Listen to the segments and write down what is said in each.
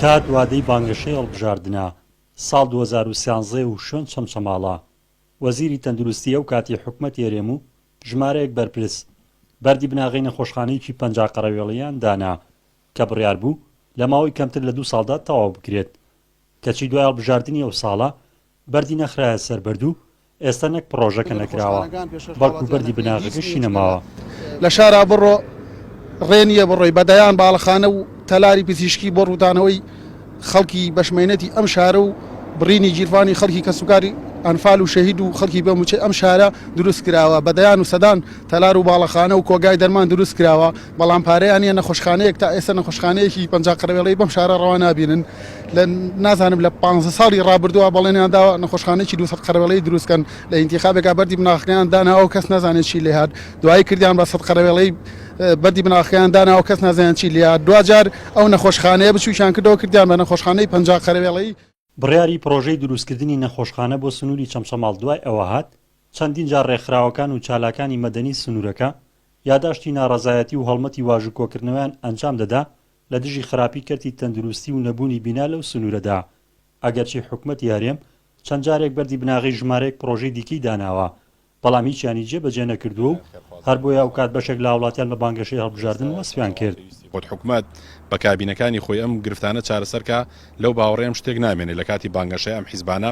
کات وادەی بانگەشەی هەڵبژاردنە ساڵ دوو هەزار و سیانزە و شوێن چەمچەماڵە. وەزیری تەندروستی ئەو کاتی حکومەتی هەرێم و ژمارەیەک بەرپرس بەردی بناغەی نەخۆشخانەیەکی پەنجا قەرەوێڵیان دانا کە بڕیار بوو لە ماوەی کەمتر لە دوو ساڵدا تەواو بکرێت کەچی دوای هەڵبژاردنی ئەو ساڵە بەردی نەخرایە سەر بەرد و ئێستا نەک پڕۆژەکە نەکراوە، بەڵکو بەردی بناغەکەشی نەماوە. لە شارا بڕۆ، ڕێ نییە بڕۆی بە دەیان باڵەخانە و تەلاری پزیشکی بۆ ڕووتانەوەی خەڵکی بەشمەینەتی ئەم شارە و بڕینی گیرفانی خەڵکی کەسوکاری ئەنفال و شەهید و خەڵکی بێ مووچەی ئەم شارە دروستکراوە، بە دەیان و سەدان تەلار و باڵەخانە و کۆگای دەرمان دروستکراوە، بەڵام پارەیان نیە نەخۆشخانەیەک تا ئێستا نەخۆشخانەیەکی پەنجا قەرەوێڵەی بەم شارە ڕەوا نابینن لە نازانم لە پانزە ساڵی ڕابردووە بەڵێنیان داوە نەخۆشخانەیەکی دوو سەد قەرەوێڵەی دروستکەن لە ئینتیخابێکا بەردی بناغەکەیان داناوە کەس نازانێت چی لێ هات دوایی کردیان بە سەد قەرەوێڵەی بەردی بناغەکەیان داناوە کەس نازانێت چی لێ هات دواجار ئەو نەخۆشخانەیە بچووکیان کردەوە کردیان بە نەخۆشخانەی پەنجا قەرەوێڵەی بڕیاری پڕۆژەی دروستکردنی نەخۆشخانە بۆ سنووری چەمچەماڵ دوای ئەوە هات چەندین جار ڕێکخراوەکان و چالاکانی مەدەنی سنوورەکە یاداشتی ناڕەزایەتی و هەڵمەتی واژووکۆکردنەوەیان ئەنجام دەدا لە دژی خراپی کەرتی تەندروستی و نەبوونی بینا لەو سنوورەدا، ئەگەرچی حکومەتی هەرێم چەند جارێک بەردی بناغەی ژمارەیەک پڕۆژەی دیکەی داناوە، بەڵام هیچیانی جێبەجێ نەکردووە و هەر بۆیە ئەوکات بەشێک لە هاوڵاتیان بە بانگەشەی هەڵبژاردن وەسفیان کرد. وت، حکومەت بە کابینەکانی خۆی ئەم گرفتانە چارەسەر کا، لەو باوەڕەیەم شتێک نامێنێ لە کاتی بانگەشەی ئەم حیزبانە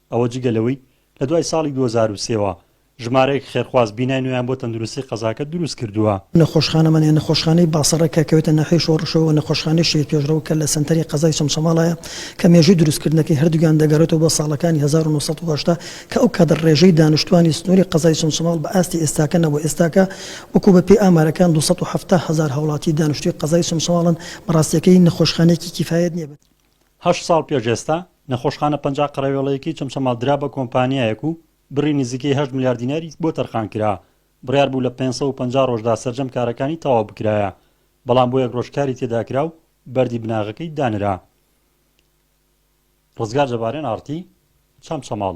ئەوە جگە لەوەی لە دوای ساڵی دوو هەزار و سێ وە ژمارەیەک خێرخواز بینای نوێیان بۆ تەندروستی قەزاکە دروست کردووە. نەخۆشخانە مەنێ، نەخۆشخانەی باصرە کە کەوێتە ناحیەی شۆڕشەوە و نەخۆشخانەی شەهید پێشڕەو کە لە سەنتەری قەزای چەمچەماڵایە کە مێژووی دروستکردنەکەی هەردووکیان دەگەڕێتەوە بۆ ساڵەکانی هەزار و نۆ سەد و هەشتا کە ئەو کات ڕێژەی دانیشتووانی سنووری قەزای چەمچەماڵ بە ئاستی ئێستاکە نەبوو ئێستاکە وەکو بە پێی ئامارەکان دوو سەد و حەفتا هەزار هاوڵاتی دانیشتووی قەزای چەمچەماڵن بەڕاستیەکەی نەخۆشخانەیەکی کیفایەت نیە بە هەشت ساڵ پێش ئێستا، نەخۆشخانە پەنجا قەرەوێڵەیەکەی چەمچەماڵ درا بە کۆمپانیایەک و بڕی نزیکەی هەشت ملیار دیناری بۆ تەرخان کرا، بڕیار بوو لە پێنج سەد و پەنجا ڕۆژدا سەرجەم کارەکانی تەواو بکرایە، بەڵام بۆ یەک ڕۆژ کاری تێدا کرا و بەردی بناغەکەی دانرا. ڕزگار جەبارێن، ئاڕتی، چەمچەماڵ.